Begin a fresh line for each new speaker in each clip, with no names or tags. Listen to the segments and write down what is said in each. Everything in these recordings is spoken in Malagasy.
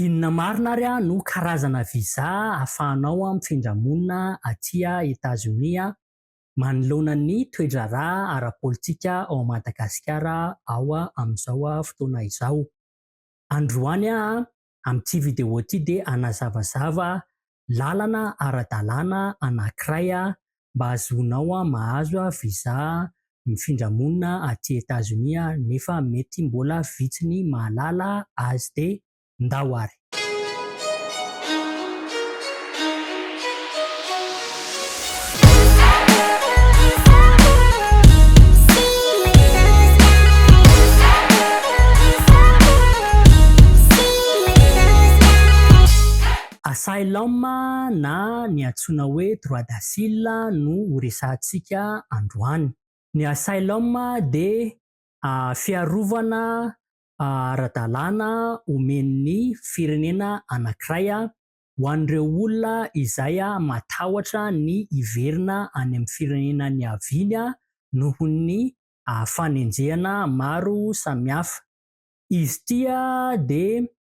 Inona marina ary no karazana visa ahafahanao mifindra monina aty Etazonia manoloana ny toe-draharaha ara-politika ao Madagasikara ao amin'izao fotoana izao? Androany aho amin'ity vidéo ity dia hanazavazava lalana ara-dalàna anankiray mba hahazoanao mahazo visa mifindra monina aty Etazonia nefa mety mbola vitsy ny mahalala azy dia ndao ary. Asylum na ny antsoina hoe droit d'asile no ho resahantsika androany. Ny asylum dia fiarovana ara-dalàna omen'ny firenena anankiray ho an'ireo olona izay matahotra ny hiverina any amin'ny firenena niaviany noho ny fanenjehana maro samihafa. Izy ity dia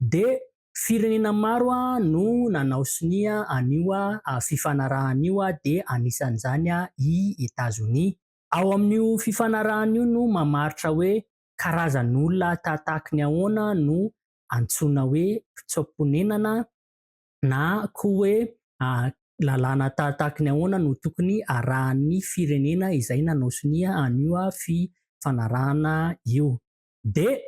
Dia firenena maro no nanao sonia an'io fifanarahana io dia anisan'izany i Etazonia. Ao amin'io fifanarahana io no mamaritra hoe karazan'olona tahatahaky ny ahoana no antsoina hoe mpitsoa-ponenana na koa hoe lalàna tahatahaky ny ahoana no tokony arahan'ny firenena izay nanao sonia an'io fifanarahana io. Dia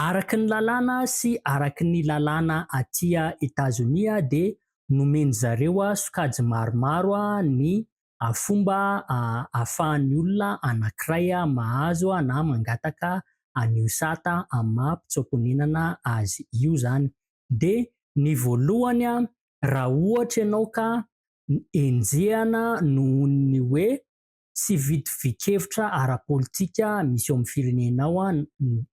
Araky ny lalàna sy araky ny lalàna aty Etazonia dia nomen'ny zareo sokajy maromaro ny fomba ahafahan'ny olona anankiray mahazo na mangataka an'io sata amin'ny maha mpitsoaponenana azy io izany. Dia ny voalohany raha ohatra ianao ka enjehana nohon'ny hoe tsy vitovikevitra ara-politika misy eo amin'ny firenenao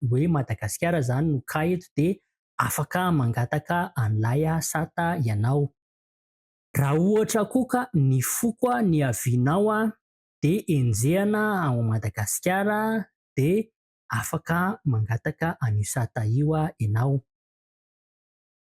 hoe Madagasikara izany no cas eto dia afaka mangataka an'ilay sata ianao. Raha ohatra koa ka nifoka ny avis-nao dia enjehina ao Madagasikara dia afaka mangataka an'io sata io ianao.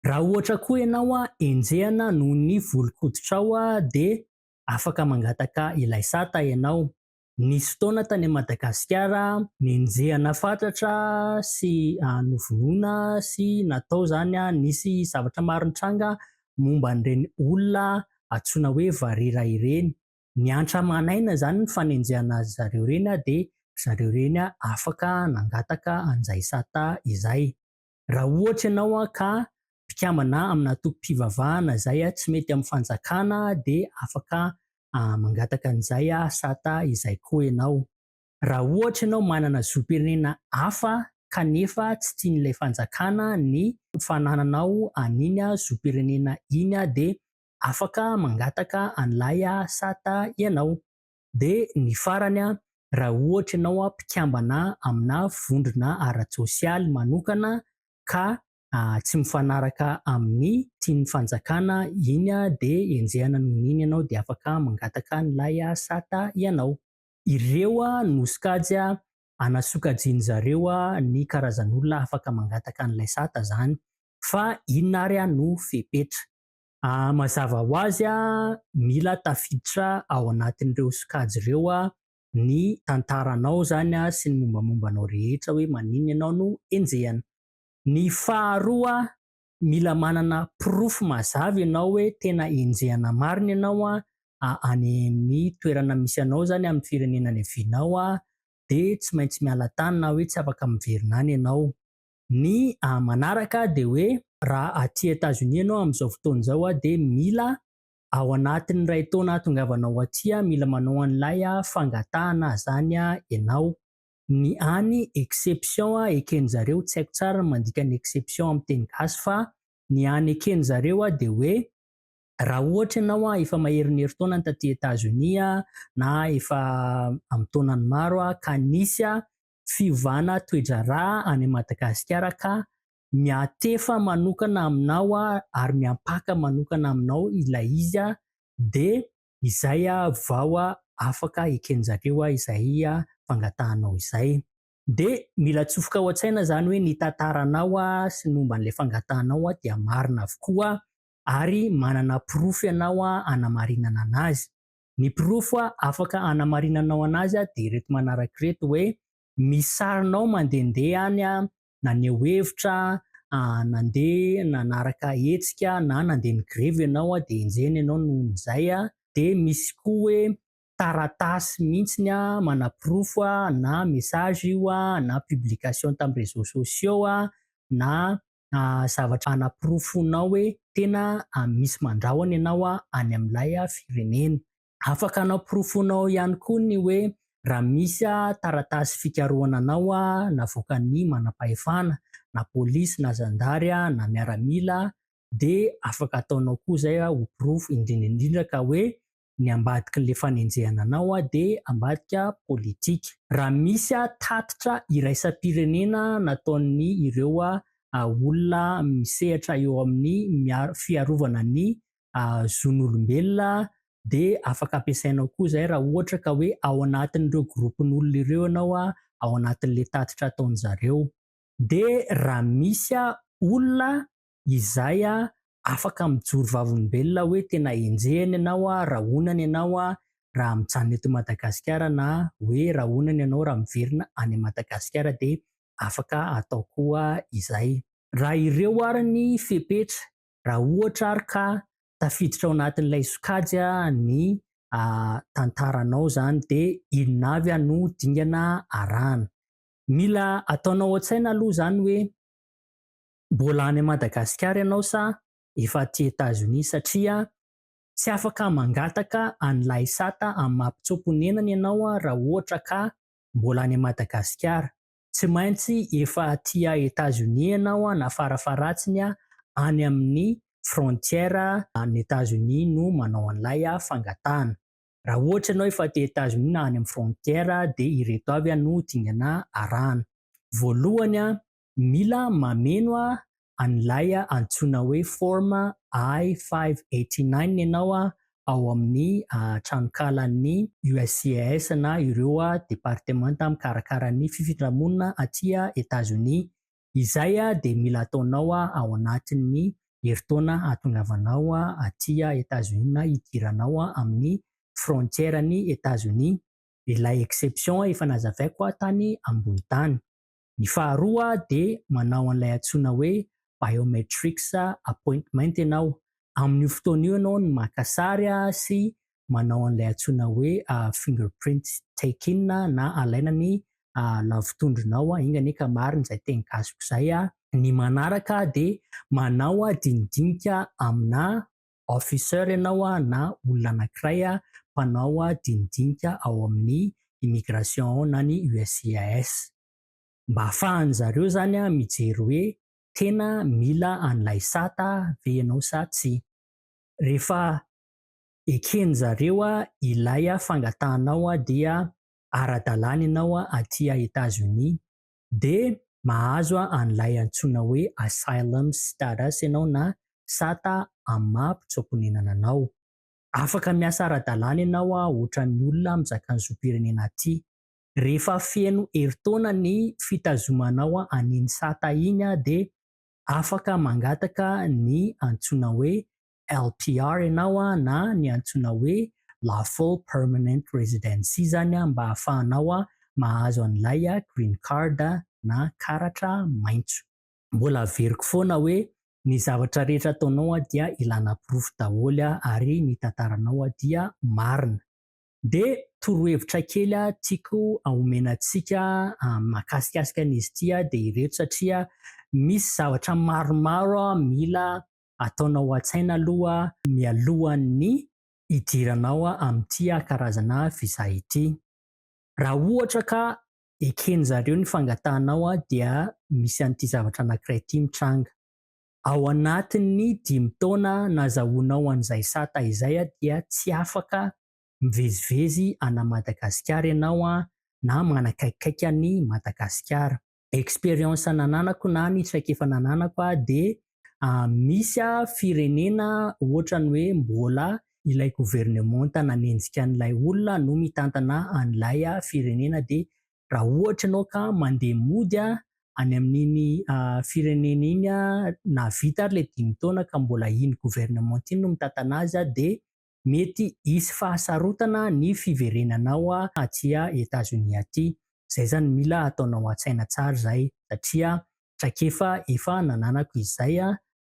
Raha ohatra koa ianao enjehina noho ny volon-koditrao dia afaka mangataka ilay sata ianao. Nisy fotoana tany Madagasikara nenjehana fatratra sy novonoina sy natao izany, nisy zavatra maro nitranga momba an'ireny olona antsoina hoe varira ireny. Niantra aman'aina izany ny fanenjehana azy zareo ireny dia ry zareo ireny afaka nangataka an'izay sata izay. Raha ohatra ianao ka mpikambana amina antoko-pivavahana izay tsy mety amin'ny fanjakana dia afaka mangataka an'izay sata izay koa ianao. Raha ohatra ianao manana zom-pirenena hafa kanefa tsy tian'ilay fanjakana ny fanananao an'iny zom-pirenena iny dia afaka mangataka an'ilay sata ianao. de ny farany a ra ohatra ianao a mpikambana amina vondrona ara-tsosialy manokana ka tsy mifanaraka amin'ny tian'ny fanjakana iny a de enjehana noho ny iny ianao de afaka mangataka an'ilay sat ianao. Ireo a no sokajy a anasokajiany zareo a ny karazan'olona afaka mangataka an'ilay sat zany fa inona ary a no fepetra. Mazava ho azy, mila tafiditra ao anatin'ireo sokajy ireo ny tantaranao izany sy ny mombamomba anao rehetra hoe maninona ianao no enjehina. Ny faharoa, mila manana porofo mazava ianao hoe tena enjehina marina ianao any amin'ny toerana misy anao izany, amin'ny firenena niavianao, dia tsy maintsy miala tany na hoe tsy afaka miverina any ianao. Ny manaraka dia hoe raha aty Etazonia ianao amin'izao fotoana izao dia mila ao anatin'ny iray taona ahatongavanao aty, mila manao an'ilay fangatahana izany ianao. Ny any exception eken'ny zareo, tsy haiko tsara ny mandika ny exception amin'ny teny gasy fa ny any eken'ny zareo dia hoe raha ohatra ianao efa maherin'ny herintaona ny taty Etazonia na efa amin'ny taonany maro ka nisy fiovana toe-draharaha any Madagasikara ka miantefa manokana aminao aho ary miampaka manokana aminao ilay izy dia izay vao afaka eken'zareo izay fangatahanao izay. Dia mila atsofoka ao an-tsaina izany hoe ny tantaranao sy ny momba an'ilay fangatahanao dia marina avokoa ary manana porofo ianao hanamarinana anazy. Ny porofo afaka hanamarinanao anazy dia ireto manaraka ireto hoe misy sarinao mandehandeha any naneho hevitra, nandeha nanaraka hetsika na nandeha ni-grevy ianao dia enjehina ianao noho izay. Dia misy koa hoe taratasy mihitsy manaporofo na message io na publication tamin'ny réseaux sociaux na na zavatra hanaporofoanao hoe tena misy mandrahona ianao any amin'ilay firenena. Afaka hanaporofoanao ihany koa ny hoe raha misy taratasy fikarohana anao navoakan'ny manam-pahefana, na polisy na zandary na miaramila, dia afaka ataonao koa izay ho porofo, indrindra indrindra ka hoe ny ambadikin'ilay fanenjehana anao dia ambadika politika. Raha misy tatitra iraisam-pirenena nataon'ny ireo olona misehatra eo amin'ny fiarovana ny zon'olombelona dia afaka ampiasainao koa izay raha ohatra ka hoe ao anatin'ireo gropin'olona ireo ianao ao anatin'ilay tatitra ataon'izareo. Dia raha misy olona Izay a afaka mijoro vavolombelona hoe tena enjehina ianao a rahonana ianao a raha mijanona eto Madagasikara na hoe rahonana ianao raha miverina any Madagasikara dia afaka atao koa izay. Raha ireo ary ny fepetra, raha ohatra ary ka tafiditra ao anatin'ilay sokajy a ny a tantaranao izany dia inona avy a no dingana arahana. Mila ataonao an-tsaina aloha izany hoe. Mbola any Madagasikara ianao sa efa aty Etazonia satria tsy afaka mangataka an'i Laisata amin'ny maha mpitsoa-ponenana ianao raha ohatra ka mbola any Madagasikara. Tsy maintsy efa aty Etazonia ianao na farafaharatsiny any amin'ny frontière an'i Etazonia no manao an'ilay fangatahana. Raha ohatra ianao efa aty Etazonia na any amin'ny frontière dia ireto avy no dingana arahana. Voalohany, Mila mameno an'ilay antsoina hoe Form I-589 ianao ao amin'ny tranonkalan'ny USCIS na ireo departemanta mikarakara ny fifindra-monina aty Etazonia. Izay dia mila ataonao ao anatin'ny herintaona hahatongavanao aty Etazonia na hidiranao amin'ny frontières-n'i Etazonia. Ilay exception efa nazavaiko tany ambony tany. Ny faharoa dia manao an'ilay antsoina hoe biometrics appointment ianao, amin'io fotoana io ianao no maka sary sy manao an'ilay antsoina hoe fingerprint taking na alaina ny lavotondronao, enga anie ka marina izay teny gasiko izay. Ny manaraka dia manao dinidinika aminà Officer ianao na olona anankiray mpanao dinidinika ao amin'ny Immigration ao na ny USCIS. Mba ahafahan'ny zareo izany mijery hoe tena mila an'ilay sata ve ianao sa tsia. Rehefa eken'ny zareo ilay fangatahanao dia ara-dalàna ianao aty Etats-Unis dia mahazo an'ilay antsoina hoe asylum status ianao na sata amin'ny maha mpitsoa-ponenana anao. Afaka miasa ara-dalàna ianao otran'ny olona mizaka ny zom-pirenena aty. Rehefa feno herintaona ny fitazomanao an'iny sata iny dia afaka mangataka ny antsoina hoe LPR ianao na ny antsoina hoe Lawful Permanent Residency izany mba ahafahanao mahazo an'ilay Green Card na karatra maitso. Mbola averiko foana hoe ny zavatra rehetra ataonao dia ilana porofo daholo ary ny tantaranao dia marina. Dia torohevitra kely tiako omena antsika mahakasikasika an'izy ity dia ireto satria misy zavatra maromaro mila ataonao an-tsaina aloha mialohan'ny hidiranao amin'ity karazana visa ity. Raha ohatra ka eken'ny zareo ny fangatahanao dia misy an'ity zavatra anankiray ity mitranga. Ao anatin'ny dimy taona nazahoanao an'izay sata izay dia tsy afaka mivezivezy ana Madagasikara ianao na manakaikikaiky an'i Madagasikara. experience nananako na ny traikefa nananako aho dia misy firenena ohatrany hoe mbola ilay governemanta nanenjika an'ilay olona no mitantana an'ilay firenena dia raha ohatra ianao ka mandeha mody any amin'iny firenena iny na vita ary ilay dimy taona ka mbola iny governemanta iny no mitantana azy dia Mety hisy fahasarotana ny fiverenanao aty Etazonia aty. Zay zany mila ataonao atsaina tsara zay satria traikefa efa nananako izay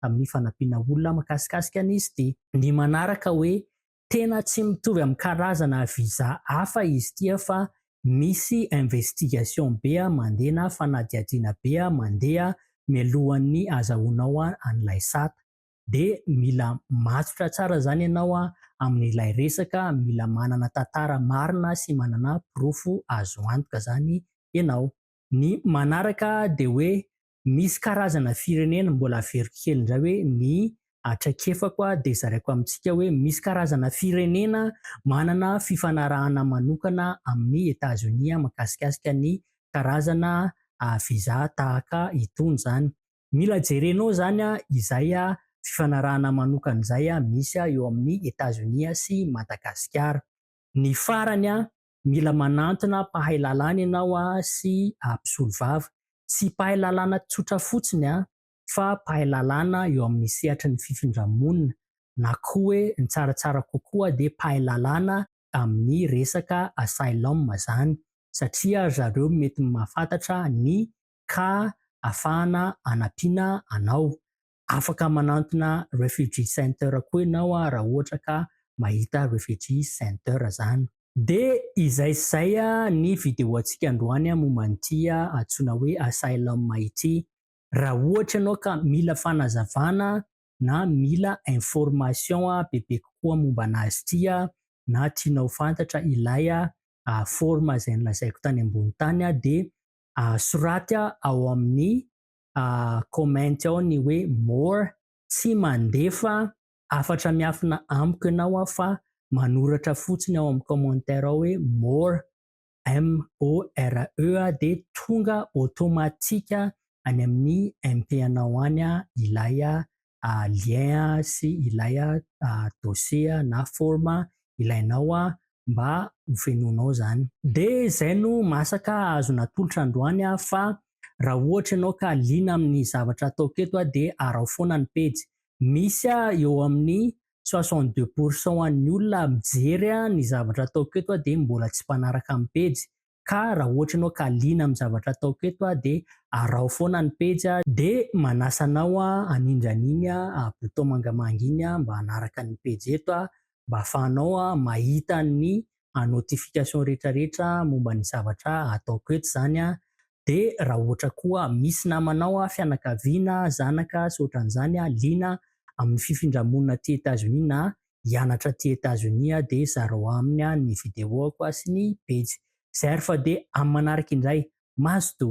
tamin'ny fanampiana olona makasikasika an'izy ty. Ny manaraka hoe tena tsy mitovy amin'ny karazana visa hafa izy ty fa misy investigation be mandeha na fanadihadiana be mandeha mialohan'ny azahoanao an'ilay sata. dia mila matotra tsara izany ianao amin'ilay resaka, mila manana tantara marina sy manana porofo azo antoka izany ianao. Ny manaraka dia hoe misy karazana firenena, mbola averiko kely indray hoe ny traikefako dia zaraiko amintsika hoe misy karazana firenena manana fifanarahana manokana amin'i Etazonia mikasikasika ny karazana visa tahaka itony izany. Mila jerenao zany izay fifanarahana manokana izay misy eo amin'i Etazonia sy Madagasikara. Ny farany, mila manantona mpahay lalàna ianao sy mpisolovava. Tsy mpahay lalàna tsotra fotsiny fa mpahay lalàna eo amin'ny sehatry ny fifindra-monina na koa hoe ny tsaratsara kokoa dia mpahay lalàna amin'ny resaka asylum izany satria ry zareo mety mahafantatra ny ka afahana anampiana anao. Afaka manantona Refugee Center koa ianao raha ohatra ka mahita Refugee Center izany. Dia izay sy izay ny videoantsika androany momba an'ity antsoina hoe Asylum ity. Raha ohatra ianao ka mila fanazavana na mila information bebe kokoa momba an'azy ity na tianao ho fantatra ilay forme izay nolazaiko tany ambony tany dia soratya ao amin'ny comment ao ny hoe more, tsy mandefa hafatra miafina amiko ianao aho fa manoratra fotsiny ao amin'ny commentaire ao hoe more, M-O-R-E, dia tonga automatique any amin'ny MP-anao any ilay lien sy ilay dossier na form ilainao mba ho fenoinao izany. Dia izay no masaka azon'ny atolotra androany fa raha ohatra ianao ka liana amin'ny zavatra ataoko eto dia araho foana ny pejy. Misy eo amin'ny soixante deux pourcent an'ny olona mijery ny zavatra ataoko eto dia mbola tsy mpanaraka ny pejy ka raha ohatra ianao ka liana amin'ny zavatra ataoko eto aho dia araho foana ny pejy aho dia manasa anao aho hanindry an'iny bouton mangamanga iny mba hanaraka ny pejy eto aho mba hahafahanao mahita ny notification rehetrarehetra momba ny zavatra ataoko eto izany aho dia raha ohatra koa misy namanao fianakaviana zanaka sy ohatran'izany liana amin'ny fifindra-monina aty Etats-Unis na hianatra aty Etazonia aho dia zarao aminy ny videoako sy ny pejy. Zay ary fa dia amin'ny manaraka indray. Mazotoa.